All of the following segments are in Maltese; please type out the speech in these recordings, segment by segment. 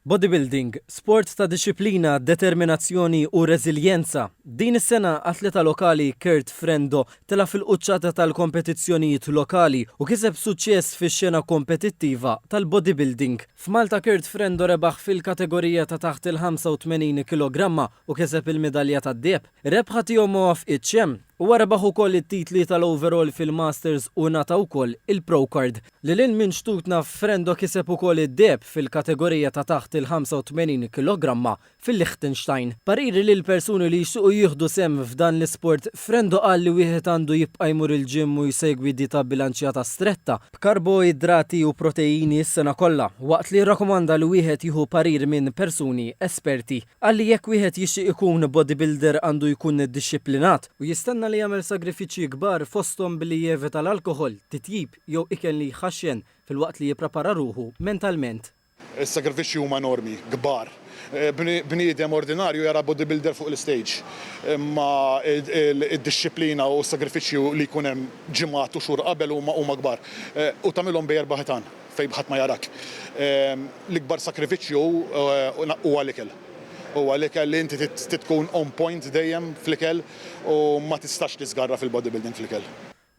Bodybuilding, sport ta' dixxiplina, determinazzjoni u reżiljenza. Din is-sena, atleta lokali Kurt Frendo telgħa fil-quċċata tal-kompetizzjonijiet lokali u kiseb suċċess fix-xena kompetittiva tal-bodybuilding. F'Malta Kurt Frendo rebaħ fil-kategorija ta' taħt il-85 kilogramma u kiseb il-midalja tad-deheb. Ir-rebħa tiegħu ma waffqitx hemm. Huwa rebaħ ukoll it-titli tal-overall fil-Masters u ngħata wkoll il-Pro Card. Lil hinn minn xtutna Frendo kiseb ukoll id-deheb fil-kategorija ta' taħt il-85 kilogramma fil-Liechtenstein. Pariri lil persuni li jixtiequ jieħdu sehem f'dan l-isport, Frendo qal li wieħed għandu jibqa' jmur il-gym u jsegwi dieta bbilanċjata stretta, b'karboidrati u proteini s-sena kollha, waqt li rrakkomanda li wieħed jieħu parir minn persuni esperti. Qal li jekk wieħed jixtieq ikun bodybuilder għandu jkun dixxiplinat, u jistenna li jagħmel sagrifiċċji kbar fosthom billi jevita l-alkoħol, titjib, jew ikel li jħaxxen filwaqt li jipprepara ruħu mentalment. Is-sagrifiċċji huma enormi, kbar. Bniedem ordinarju jara bodybuilder fuq l-istage, imma d-dixxiplina u s-sagrifiċċju li jkun hemm ġimgħat u xhur qabel huma kbar. U tagħmilhom bi erba' ħitan fejn ħadd ma jarak. L-ikbar sagrifiċċju huwa l-ikel. Huwa l-ikel li inti trid tkun on point dejjem fl-ikel u ma tistax tiżgarra fil-bodybuilding fl-ikel.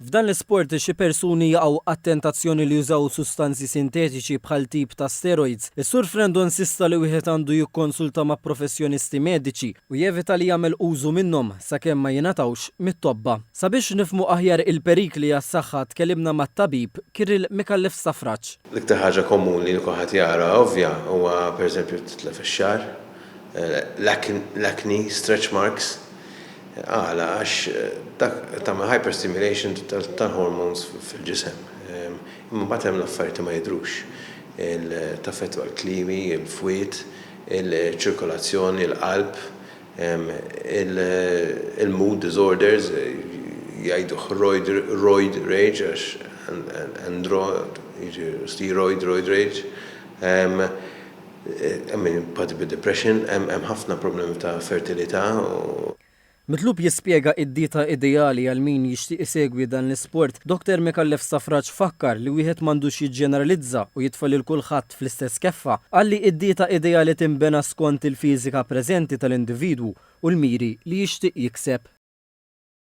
F'dan l-isport, xi persuni jaqgħu għat-tentazzjoni li jużaw sustanzi sintetiċi bħal tip ta' steroids. Is-Sur Frendo insista li wieħed għandu jikkonsulta ma' professjonisti mediċi u jevita li jagħmel użu minnhom sakemm ma jingħatawx mit-tobba. Sabiex nifhmu aħjar il-perikli għas-saħħa tkellimna mat-tabib Kirill Micallef Stafraċ. L-iktar ħaġa komuni li kulħadd jara ovvja huwa pereżempju titlef ix-xagħar, l-acne, stretch marks. Għala? Għax dak tagħmel hyperstimulation tal-hormones fil-ġisem. Imma mbagħad hemm l-affarijiet li ma jidhrux. Taffettwa l-klimi, il-fwied, iċ-ċirkolazzjoni, l-qalb, il-mood disorders, jgħiduh roid rage għax andro, jiġi steroid roid rage. Hemm min jpatti bid-depression, hemm ħafna problemi ta' fertilità u. Mitlub jispjega id-dieta ideali għal min jixtieq isegwi dan l-isport, Dr Micallef Stafrace fakkar li wieħed m'għandux jiġġeneralizza u jitfa' lil kulħadd fl-istess keffa. Qal li d-dieta ideali tinbena skont il-fiżika preżenti tal-individwu u l-miri li jixtieq jikseb.